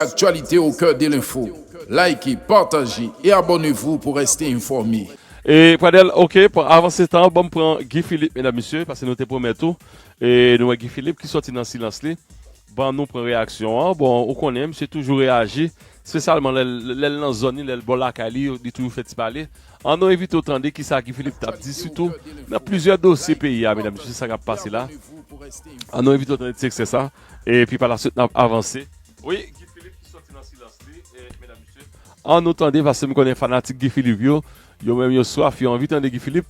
Actualités au cœur de l'info Like, partager et abonnez-vous pour rester informé. E pradel ok pran avanse tan banm pran Guy Philippe medam mesye paske nou te pwomèt ou e nou wè Guy Philippe ki sòti nan silans li ban nou pran reyaksyon an bon ou konnen misye toujou reyaji spesyalman lèl nan zòn li lèl bò lakay li li toujou fè ti pale an nou envite ou tande kisa Guy Philippe tap di sitou nan plizyè dosye peyi a medam mesye se sa kap pase la an nou envite ou tande ti ekstrè sa epi pa la swit nap avanse. Wi Guy Philippe ki soti nan silans li medam mesye. An nou tande paske m konnen fanatik Guy Philippe yo, yo menm yo swaf yo anvi tande Guy Philippe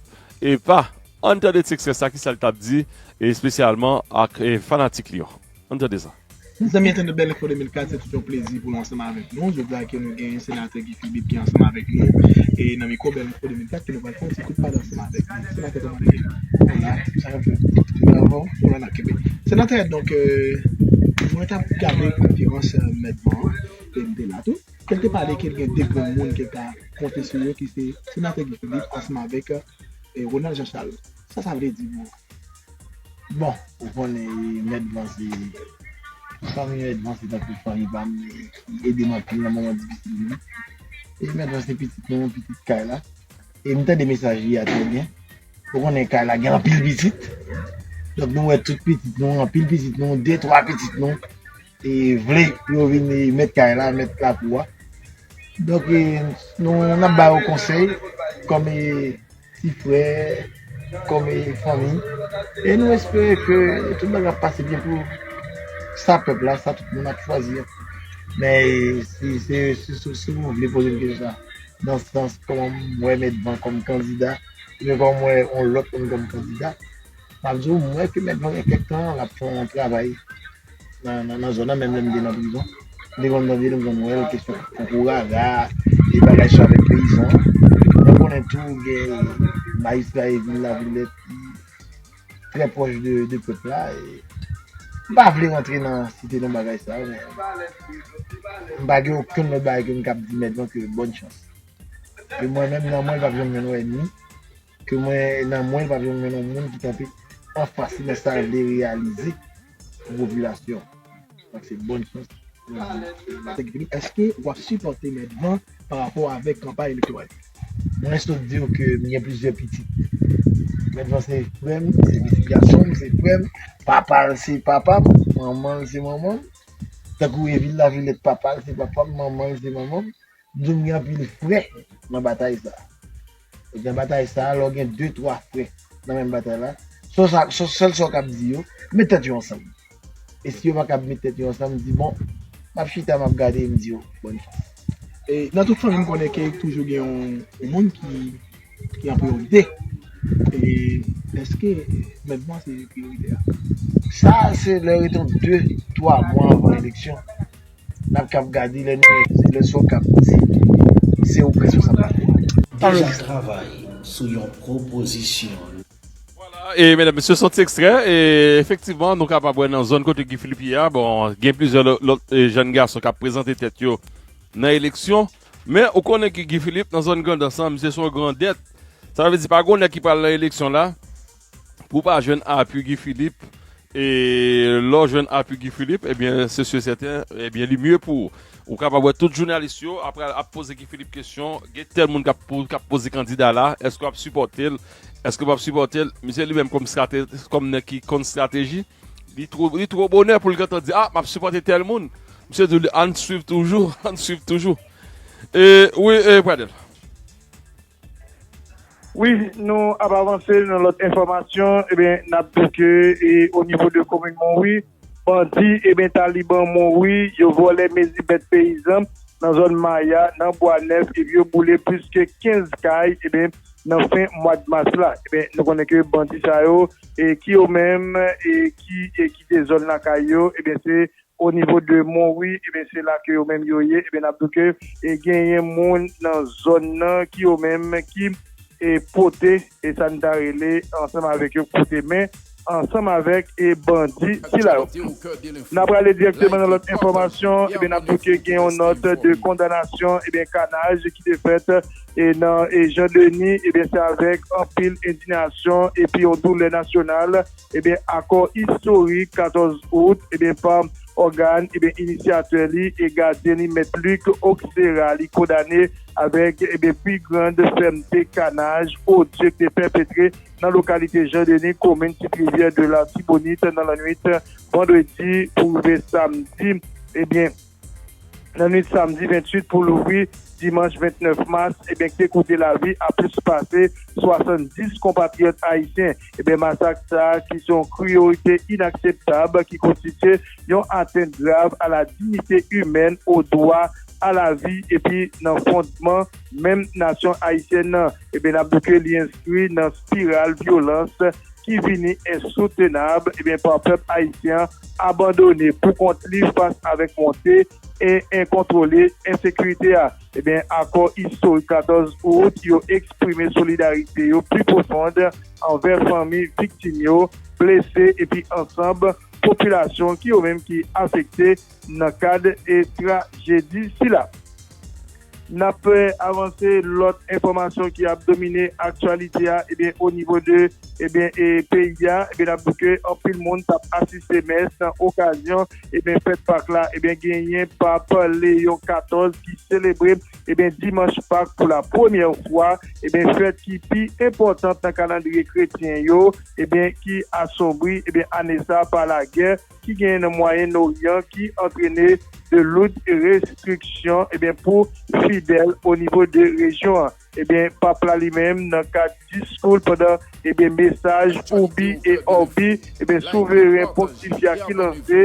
epa ann tande ti ekstrè sa kisa l tap di espesyalman ak fanatik li yo ann tande sa. Mezanmi entènot bèlefo 2004 se tout yon plezi pou nou ansanm avèk nou jodi a ke nou gen yon senatè Bib ki ansanm avèk li yo. E nan mikwo bèl mikwo 2004 ke nou pral fè yon ti kout pale ansanm avèk li. Senatè kòman nou ye? Hola, tout sa bon? Tout bagay ankò? Nou la nan kenbe. Senatè, donk, mwen t ap gade konferans Mèt Van an, e m te la tou, ke l te pale ke l gen 2 grann moun ke l ka konte sou yo ki se Senatè Guy Philippe ansanm avèk Ronald Jean Charles. Sa sa vle di pou ou? Bon ou konnen mèt van se fanmi mèt van se tankou fanmi pam li edem anpil nan moman difisil yo e mèt van se pitit nou pitit kay la e m tande mesaj li a trè byen ou konnen kay la gen anpil pitit donk nou wè tout pitit nou anpil pitit nou de twa pitit nou vle pou yo vin mèt kay la, mèt lakou a. Donk nou ap ba yo konsèy kòm ti frè, kòm fanmi e nou espere ke tout bagay ap pase byen pou sa pèp la, sa tout moun ap chwazi a. Men si se si nou vle poze m kesyon sa nan sans kòman m wè mèt van kòm kandida oubyen kòman m wè yon lòt moun kòm kandida, m ap di w m wè ke mèt van gen kèk tan l ap fè yon travay nan zòn nan menm lè m te nan prizon m te konn tande nou konn wèl kesyon koko raga e bagay sa avèk peyizan mwen konnen tou gen majistra e vil lavilèt ki trè pwòch de pèp la m pa vle rantre nan site non bagay sa men m pa gen okenn lòt bagay ke m kab di mèt non ke bòn chans ke mwen menm nan mwen l pap janm jwenn wè ènmi. Ke mwen nan mwen li pa jwenn mwen nan moun ki kanpe anfas li men sa l vle reyalize pou popilasyon. Donk se bòn chans mwen vle. Sèk Filip, èske w ap sipòte Mèt Van pa rapò avèk kanpay elektoral li? Mwen sot di w ke m gen plizyè pitit. Mèt Van se frè m, se pitit gason m, se frè m. Papa l se papa m, manman l se manman m. Tankou Evil Lavilette papa l se papa m, manman l se manman m. Gen anpil frè nan batay sa. E nan batay sa, lè w gen de twa frè nan menm batay la, sèl sa w kab di yo, met tèt yo ansanm. E si yo pa kab met tèt yo ansanm, di bon, m ap chita, m ap gade, m di yo bòn chans. E nan tout fanmi m konnen ke toujou gen yon moun ki an priyorite. E èske mèt mwen se priyorite a? Sa se lè rete yon de twa mwa anvan eleksyon. Nap kap gade lè nou wè se leson kap di se ou k responsab la kou. Deja travay sou yon pwopozisyon lwa. Vwala e medam mesye son ti ekstrè e efektivman nou kapab wè nan zòn kote Guy Philippe ye a bon gen plizyè lòt jèn gason kap prezante tèt yo nan eleksyon men ou konnen ke Guy Philippe nan zòn Grandans lan misye son grandèt sa vle di pa gon nèg ki pral nan eleksyon la Pou w pa jwenn apui Guy Philippe e lè w jwenn apui Guy Philippe ebyen se su et sèten ebyen li mye pou ou kapab wè tout jounalis yo ap pral ap poze Guy Philippe kesyon gen tèl moun kap pou kap poze kandida la èske wap sipòte l èske wap sipòte l misye li menm kòm strate kòm nèg ki konn strateji li two li two bonè pou l gentan di a map sipòte tèl moun misye di w ann swiv toujou ann swiv toujou e wi e Pradel. Wi nou ap avanse nan lòt enfòmasyon ebyen nap di ke o nivo de komin Monwi bandi ebyen taliban Monwi yo vòlè mezi bèt peyizan nan zòn maya nan bwa nèf epi yo boule plis ke 15 kay ebyen nan fen mwad mas la ebyen nou konnen ke bandi sa yo e ki yo menm e ki kite zòn lakay yo ebyen se O nivo de Monwi, ebyen se la ke yo menm yo ye, ebyen nap do ke genyen moun nan zòn nan ki yo menm ki e pote e sa n ta rele ansanm avèk yo koute men ansanm avèk e bandi sila yo. Nan prale dirèkteman nan lòt enfòmasyon, ebyen nap do ke gen yon nòt de kondanasyon ebyen kanaj ki te fèt e nan e Jan Deni, ebyen se avèk anpil endinasyon epi yon doulè nasyonal. ebyen akò istorik 14 out ebyen pa ògàn ebyen inisyatè li e gadyen li Mèt Luc Oxerra li kondane avèk ebyen pi grand fèmte kanaj odye ki te pèpetre nan lokalite Jean Denis komin Tit Rivyè de l'Artibonite nan lannwit vandredi pou rive samdi ebyen. Nan nwit samdi 28 pou louvri dimanch 29 mas, ebyen k te koute lavi a plis pase 70 konpatriyòt ayisyen. Ebyen masak sa a ki se yon kriyorite inakseptab ki konstitye yon atent grav a la dignite imèn, o dwa a la vi epi nan fondman menm nasyon ayisyèn nan, ebyen n ap di ke li enskri nan spiral vyolans, ki vini ensoutenab ebyen pa pèp ayisyen abandone pou kont li fas avèk monte e enkontwole ensekirite a ebyen akò istorik 14 out yo eksprime solidarite yo pi pwofond anvè fanmi viktim yo blese epi ansanb popilasyon ki yo menm ki afekte Nan kad trajedi sila, n ap avanse lòt enfòmasyon ki ap domine aktyalite a onivo de peyi a, n ap di ke anpil moun t ap asiste mès nan okazyon fèt Pak la, genyen Pap Leyon 14 ki selebre dimanch Pak pou la premyè fwa, fèt ki pi enpòtan nan kalandriye kretyen yo ki asonbri ane sa pa lagè. ki genyen nan Mwayen Oryan ki antrene de loud restriksyon pou fidèl o nivo de rejyon an. Pap la li menm nan kad diskou l pandan mesaj Urbi et Orbi, Souveren Pontifya ki lanse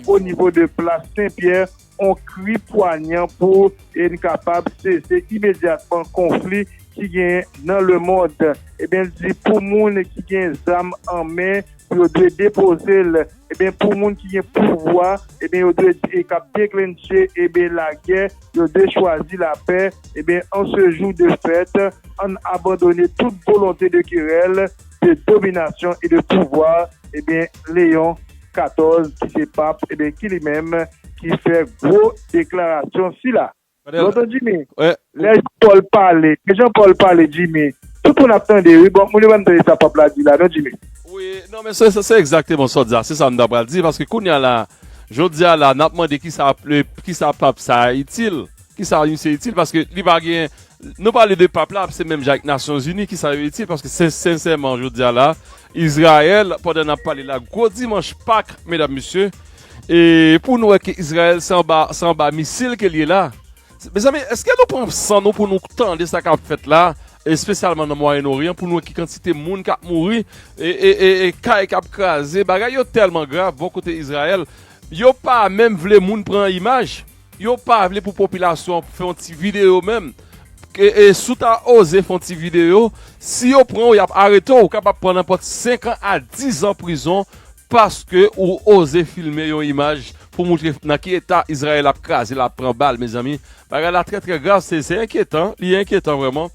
o nivo de Plas Sen Pyè, On kri pwanyan pou yn kapab sese imedyatman konfli ki genyen nan le mond. Ebyen l di pou moun ki gen zam an men pou yo dwe depoze l. Ebyen pou moun ki gen pouvwa ebyen yo dwe e kap deklentche ebyen lagè yo dwe chwazi lapè. Ebyen an se jou de fèt ann abandone tout volonte de kerèl, de dominasyon e de pouvwa. Ebyen Leon. 14 ki se pap ebyen ki li menm ki fè gwo deklarasyon sila. Bon ton Jimmy lè Jean Paul pale lè Jean Paul pale Jimmy tout moun ap tande wi bon moun yo pa nan tande sa pap la di la non Jimmy. Wi non men se se egzakteman sa w di la se sa m ta pral di paske kounya la jodi a la n ap mande kisa kisa pap sa a itil kisa misye itil paske li pa gen nou pale de pap la se menm jan ak nasyonzini kisa yo itil paske sen sensèman jodi a la Israel pandan nap pale la gwo dimanch pak medam mesye e pou nou wè ke Israel se anba se anba misil kel ye la mezanmi eske nou pran san nou pou nou tande sa kap fèt la espesyalman nan mwayenn oryan pou nou wè ki kantite moun kap mouri e kay kap kraze bagay yo tèlman grav bò kote Israel yo pa menm vle moun pran imaj. Yo pa vle pou popilasyon an fè yon ti video menm e si w ta oze fè yon ti video si yo pran w y ap arete w ou kapab pran nanpòt 5 an a 10 an prizon paske ou oze filme yon imaj pou moutre nan ki eta Izrayèl ap kraze la ap pran bal mezanmi bagay la trè trè grav se enkyetan li enkyetan vrèman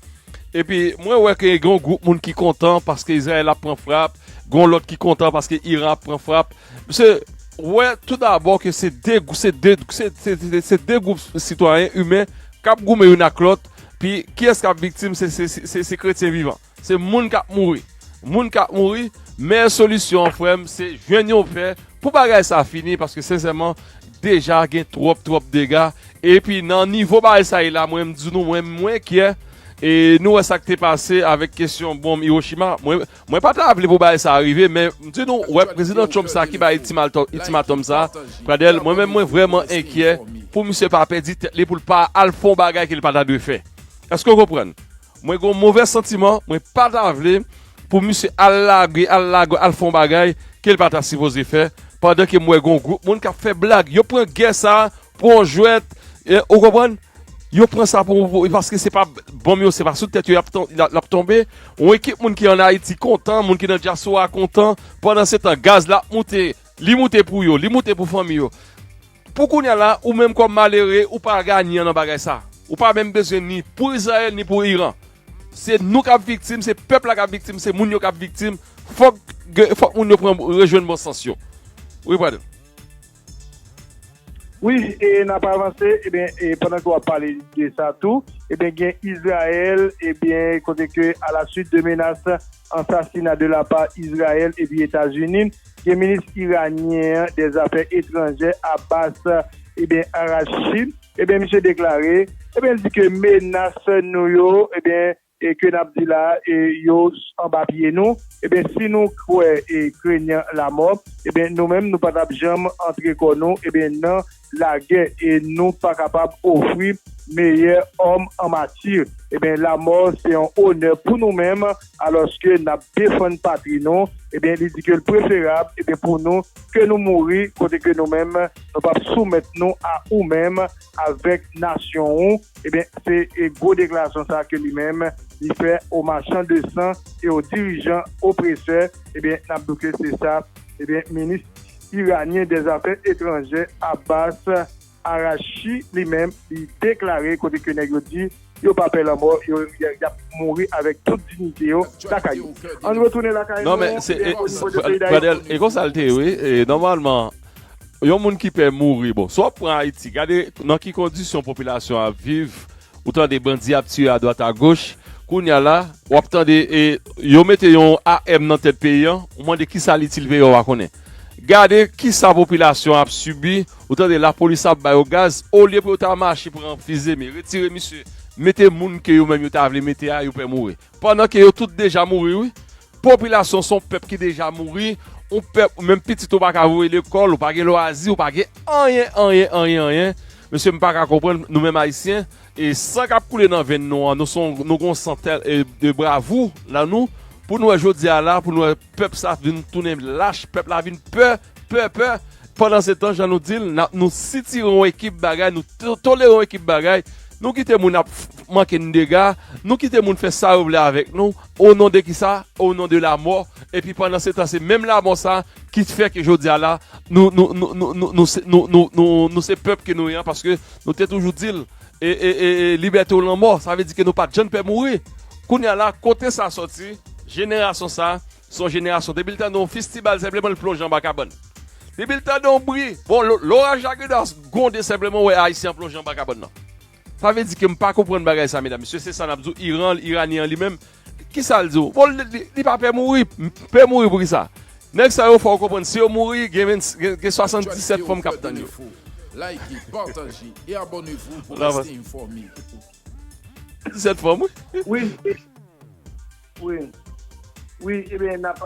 epi mwen wè ke gen yon gwoup moun ki kontan paske Izrayèl ap pran frap gen yon lòt ki kontan paske Iran ap pran frap. Se wè tou dabò ke se de gwoup sitwayen imen k ap goumen youn ak lòt, pi kiyès k ap viktim, se kretyen vivan. Se moun k ap mouri. Moun k ap mouri, meyè solisyon an frè m, se jwenn yon fè pou bagay sa fini, paske sensèman, deja gen twòp twòp dega, epi nan nivo bagay sa ye la, mwen m di nou mwen m enkyè, e nou wè sa k te pase avèk kesyon bonm Iwochima, mwen. Mwen pa ta vle pou bagay sa rive men m di nou wè prezidan Trump sa ki bay itimatòm sa Pradel mwen menm mwen vrèman enkyè pou misye pa pèdi tèt li pou l pa al fè yon bagay ke li pa ta dwe fè èske w konprann mwen gen yon movè santiman mwen pa ta vle pou misye al lage al lage al fè yon bagay ke li pa ta sipoze fè pandan ke m wè gen yon gwoup moun k ap fè blag yo pran gè sa Pran jwèt ou konprann yo pran sa pou paske se pa bonm yo se pa sou tèt yo lap tonbe yon ekip moun ki an ayiti kontan moun ki nan dyaswa kontan pandan se tan gaz la ap moute li moute pou yo li moute pou fanmi yo pou kounya la ou menm kòm malere ou pa ganyan nan bagay sa ou pa menm bezwen ni pou izrayèl ni pou iran se nou kap viktim se pèp la kap viktim se moun yo kap viktim fòk moun yo pran rejwenn bon sans yo wi brother. Wi e nap avanse ebyen e pandan ke wap pale de sa tou ebyen gen Izrayèl ebyen kote ke a la swit de menas ansasina de la pa Izrayèl epi Etazini gen minis Iranyen an dè zafè etranjè Abbas ebyen Araghchi ebyen misye deklare ebyen li di ke menas nou yo ebyen e ke nap di la e yo anba pye nou ebyen si nou kwè e krenyan lamò ebyen nou menm nou pa tap janm antre kò nou ebyen nan lagè e nou pa kapab ofri meyè òm an mati ebyen lamò se yon onè pou nou menm alòske nap defann patri nou ebyen li di kel preferab ebyen pou nou ke nou mouri kote ke nou menm nou pap soumèt nou a ou menm. avèk nasyon ou ebyen se gwo deklarasyon sa ke li menm li fè o machan de san e o dirijan opresè ebyen nap di w ke se sa ebyen minis iranyen dè zafè etranjè Abbas Araghchi li menm li deklare kote ke nèg yo di. Yo pa pè lanmò, yo yap mouri avèk tout dignite yo lakay yo. Ann retounen lakay nou, oubyen o nivo de peyi Dayiti. Pradel, e konsa l te ye wi, nòmalman yon moun ki pè mouri, bon si w ap pran Ayiti, gade nan ki kondisyon popilasyon ap viv, ou tande bandi ap tire adwat agoch, kounye a la w ap tande yo mete yon AM nan tèt peyi an, ou mande kisa l itil peyi an w pa konnen. Gade kisa popilasyon ap sibi ou tande lapolis ap bayo gaz olye pou yo ta mache pran fizeme retire misye mete moun ke yo menm yo ta vle mete a yo pè mouri pandan ke yo tout deja mouri wi popilasyon son pèp ki deja mouri on pèp ou menm pitit ou paka voye lekòl ou pa gen lwazi ou pa gen anyen anyen anyen anyen mesye m paka konprann nou menm ayisyen e san kap koule nan venn nou an nou son nou gon san tèl e de bravou nan nou pou nou wè jodi a la pou nou wè. Pèp sa vin tounen lach, pèp la vin pè, pè, pè. Pandansetan, jan nou di l, n ap nou sitire yon ekip bagay, nou tolere yon ekip bagay, nou kite moun ap manke n dega, nou kite moun fè sa yo vle avèk nou, onon de kisa? Onon de lamò. Epi pandansetan se menm lamò sa ki fè ke jodi a la, nou se pèp ke nou ye an paske nou te toujou di l. E e e e libète ou lanmò sa vle di ke nou pat jann pè mouri kounya la kote sa sòti jenerasyon sa son jenerasyon depi l tande yon fistibal senpleman l plonje anba kabann depi l tande yon bri bon loraj la geda gwonde senpleman ou wè ayisyen an plonje anba kabann nan sa vle di ke m pa konprann bagay sa medam mesye se sa nap di w iran iranyen an li menm Kisa l di w? Bon li pa pè mouri. M pè mouri pou kisa? Nèg sa yo fè w konprann si yo mouri gen 77 fanm k ap tann yo. Like, partage et abonnez-vous pour rester informé. 77 fanm wi. Wi wi wi ebyen n ap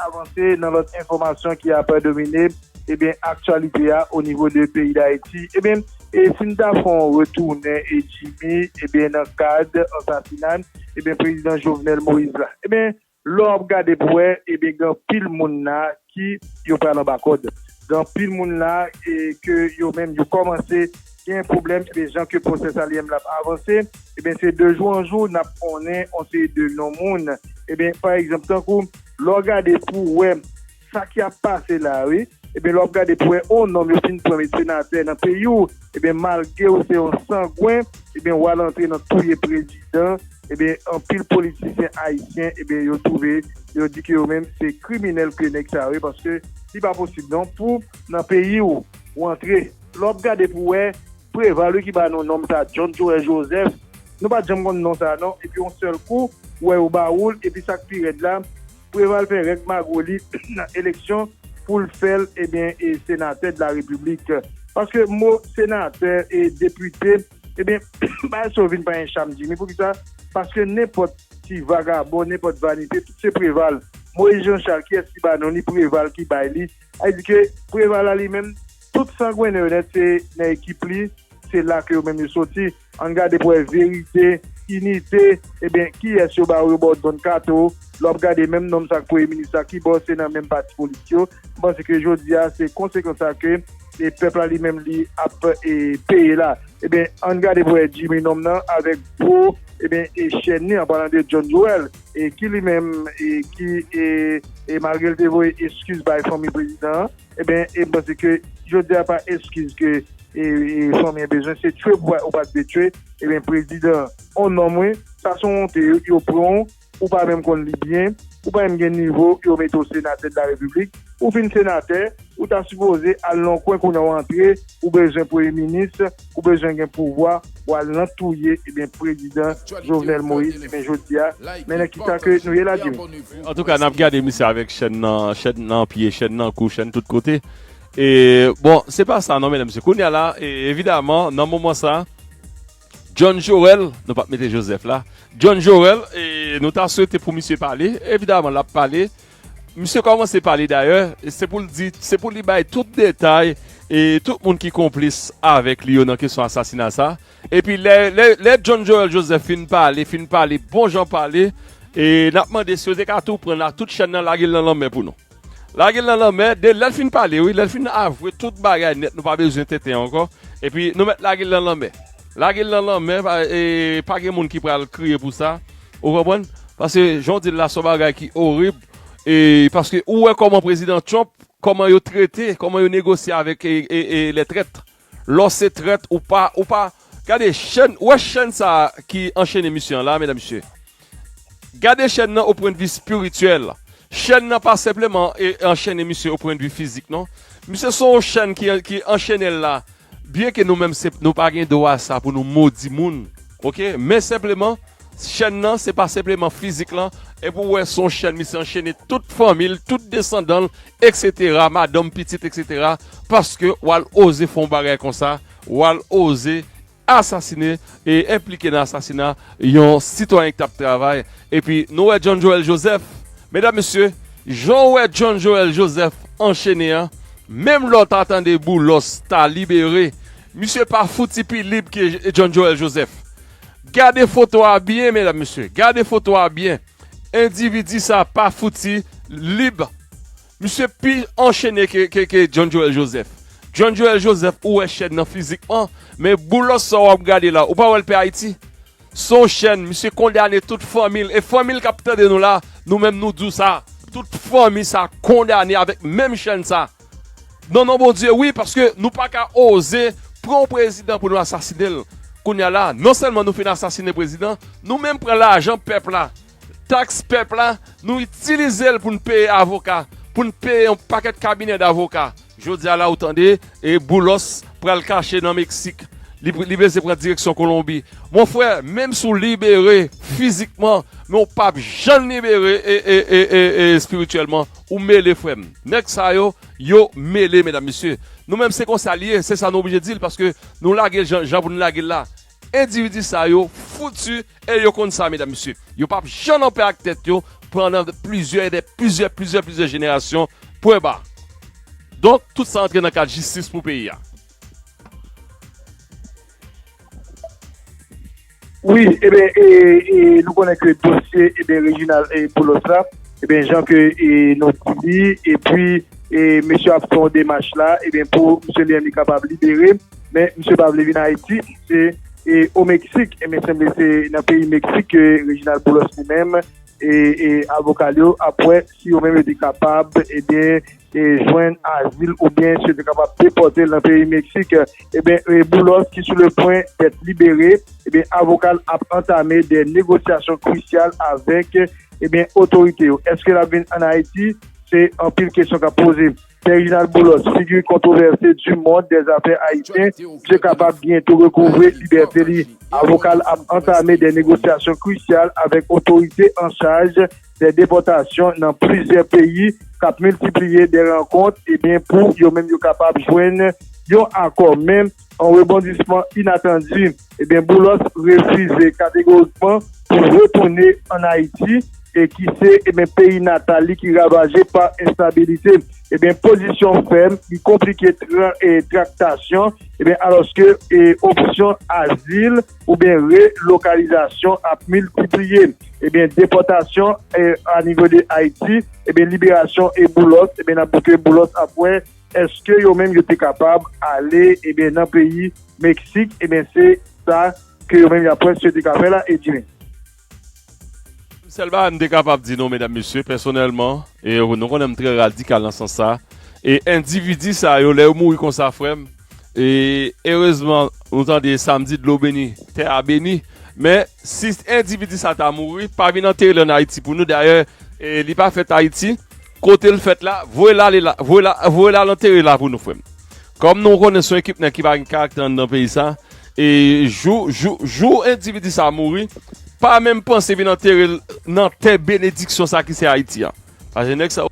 avanse nan lòt enfòmasyon ki ap domine ebyen aktyalite a onivo de peyi Dayiti ebyen E si n ta fè yon retounen e Jimmy ebyen nan kad ansasinay ebyen prezidan Jovenel Moïse la ebyen lè w ap gade pou wè ebyen gen anpil moun la ki yo pral anba kòd gen anpil moun la e ke yo menm yo kòmanse gen pwoblèm ebyen jan ke pwosè Salyem la ap avanse ebyen se de jou an jou n ap konnen yon seri de non moun ebyen pa egzanp tankou lè w gade pou wè. Sa ki ap pase la wi. Ebyen lè wap gade pou wè on nonm yo fin pran met senatè nan peyi w ebyen malgre w se on sangwen ebyen wal antre nan touye prezidan ebyen anpil politisyen ayisyen ebyen yo twouve yo di ke yo menm se kriminèl ke nèg sa yo ye paske li pa posib non pou nan peyi w ou antre lè wap gade pou wè Preval wi ki ba nou nonm sa John Joel Joseph nou pat janm konn non sa non epi on sèl kou ou wè yo ba ou l epi sak pi rèd la. Preval fè règ magro li nan eleksyon poul fèl ebyen e senatè de la repiblik paske mo senatè e depite ebyen bay so vin panyen cham jimmy poukisa paske nenpòt ti vagabon nenpòt vanite tout se preval moise jean charles kiyès ki ba non li preval ki bay li sa di ke preval la li menm tout sangwenen yo nèt se nan ekip li se la ke yo menm yo soti. Ann gade pou wè verite, inite, ebyen kiyès yo baw yo baw don kato, lè wap gade menm nonm sak premye minis la kibò se nan menm pati politik yo, m panse ke jodia se konsekans sa ke e pèp la li menm li ap e peye la, ebyen ann gade pou wè Jimmy nonm nan avèk gwo ebyen e chèn li an palan de John Joel e ki li menm e ki e e malgrel te voye eskiz bay fanmi prezidan an ebyen e m panse ke jodia pa eskiz ke. E fanmi an bezwen se tchwe ou pat vle tchwe ebyen prezidan on nonm wi sa son wonte yo pranw ou pa menm konn li byen ou pa menm gen nivo yo mete w senatè de la repiblik ou fin senatè ou ta sipoze al nan yon kwen kounya w antre ou bezwen premye minis ou bezwen gen pouvwa wal nan touye ebyen prezidan jovenel moïse ebyen jodia men nan kisa ke nou ye la dim. Antouka nap gade misye avèk chèn nan chèn nan pye chèn nan kou chèn tout kote. E bon se pa sa non medam mesye kounya la evidaman nan moman sa John Jorel nou pap mete Joseph la John Jorel e nou ta swete pou misye pale evidaman lap pale misye komanse pale dayè se pou l di se pou li bay tout detay e tout moun ki konplis avèk li yo nan kesyon asasina sa epi lè John Jorel Joseph fin pale fin pale bon jan pale e nap mande si yo te ka tou pran la tout chèn nan lage l nan lanmè pou nou. Lage l nan lanmè, de lè l fin pale wi, lè l fin avwe tout bagay nèt nou pa bezwen tenten ankò, epi nou mèt lage l nan lanmè. Lage l nan lanmè e pa gen moun ki pral kriye pou sa, ou konprann? Paske jan w di l la se yon bagay ki orib e paske ou wè kòman prezidan Trump, kòman yo trete, kòman yo negosye avèk lè trèt. Lè w se trèt ou pa ou pa Gade chèn ou wè chèn sa ki anchene misye an la medam mesye Gade chèn nan o pwen de vi spirityèl Chèn nan pa senpleman e anchene misye o pwen de vi fizik non Misye son w chèn ki anchene l la Byen ke nou menm se nou pa gen dwa sa pou nou modi moun ok Men senpleman chèn nan se pa senpleman fizik lan Epi w wè son chèn misye anchene tout fanmi l tout desandan l Etc madanm pitit etc paske wal oze fon bagay konsa wal oze asasine e enplike nan asasina yon sitwayen ki tap travay epi nou wè John Joel Joseph medam mesye jan ou wè John Joel Joseph anchene an menm lè ou ta tande Boulos ta libere misye pa fouti pi lib ke John Joel Joseph gade foto a byen medam mesye gade foto a byen. Endividi sa pa fouti lib. Misye pi anchene ke John Joel Joseph. John Joel Joseph ou wè chèn nan fizikman, men Boulos sa wap gade la ou pa wèl pè Ayiti? Son chèn, misye kondane tout fanmil e fanmil kap tande nou la, nou menm nou diw sa, tout fanmi sa kondane avèk menm chèn sa. Nan non Bondye wi paske nou paka oze pran yon prezidan pou nou asasine l kounya la non sèlman nou fin asasine prezidan nou menm pran lajan pèp la tax pèp la nou itilize l pou n peye avoka pou n peye yon pakèt kabinè davoka jodia la ou tande e boulos pral kache nan meksik li beze pran direksyon kolonbi mon frè menm si w libere fizikman men w pap janm libere e e e e espirityèlman Ou mele frem. Neg sa yo yo mele medam mesye nou menm se konsa li ye se sa nou oblije dil paske nou lagel jan jan pou nou lagel la endividi sa yo foutu e yo konn sa medam mesye yo pap janm anpè ak tèt yo pandan plizyè e dè plizyè plizyè plizyè jenerasyon pwen ba donk tout sa antre nan kad jistis pou peyi a. Wi eben e nou konnen ke dosye eben Reginald Boulos la eben jan ke e nou di li epi e mesye ap fè yon demach la eben pou misye li menm li kapab libere men misye pa vle vin Ayiti se e o Meksik e men sanble se nan peyi Meksik ke Reginald Boulos li menm e avoka l yo ap wè si yo menm yo te kapab eben jwenn azil oubyen si yo te kapab depòte l nan peyi Meksik, ebyen Boulos ki sou le pwen dèt libere, ebyen avoka l ap antame de negosyasyon krisyal avèk ebyen otorite yo. Eske l ap vin an Ayiti? Se anpil kesyon k ap poze. Pè Reginald Boulos, figi kontwovèse di mond dè zafè ayisyen, misye kapab byento rekouvre libète li. Avoka l ap antame de negosyasyon krisyal avèk otorite an chaj. dè depòtasyon nan plizyè peyi k ap miltipliye dè rankont ebyen pou yo menm yo kapab jwenn yon akò men an rebondisman inatandi ebyen Boulos refize kategorikman pou retounen an Ayiti e ki se ebyen peyi natal li ki ravaje pa enstabilite ebyen pozisyon fèm li konplike traktasyon ebyen alòske opsyon azil. oubyen re-lokalizasyon ap miltipliye, ebyen depòtasyon a nivo de Ayiti, ebyen liberasyon e Boulos, ebyen nap di ke Boulos ap wè eske yo menm yo te kapab ale ebyen nan peyi Meksik, ebyen se sa ke yo menm yap wè si yo te ka fè la, Edwin. Sèl bagay m te kapab di nou medam mesye pèsonèlman e nou konnen m trè radikal nan sans sa e endividi sa yo lè yo mouri konsa frè m e erezman nou tande sa m di dlo beni tè a beni men si endividi sa ta mouri pa vin antere l an Ayiti pou nou dayè li pa fèt Ayiti kote l fèt la voye l ale la voye l ale antere la pou nou frè m Kòm nou konnen son ekip nèg ki pa gen karaktè anndan peyi sa e jou jou jou endividi sa mouri pa menm panse vin anterel nan tè benediksyon sa ki se ayiti a paske nèg sa yo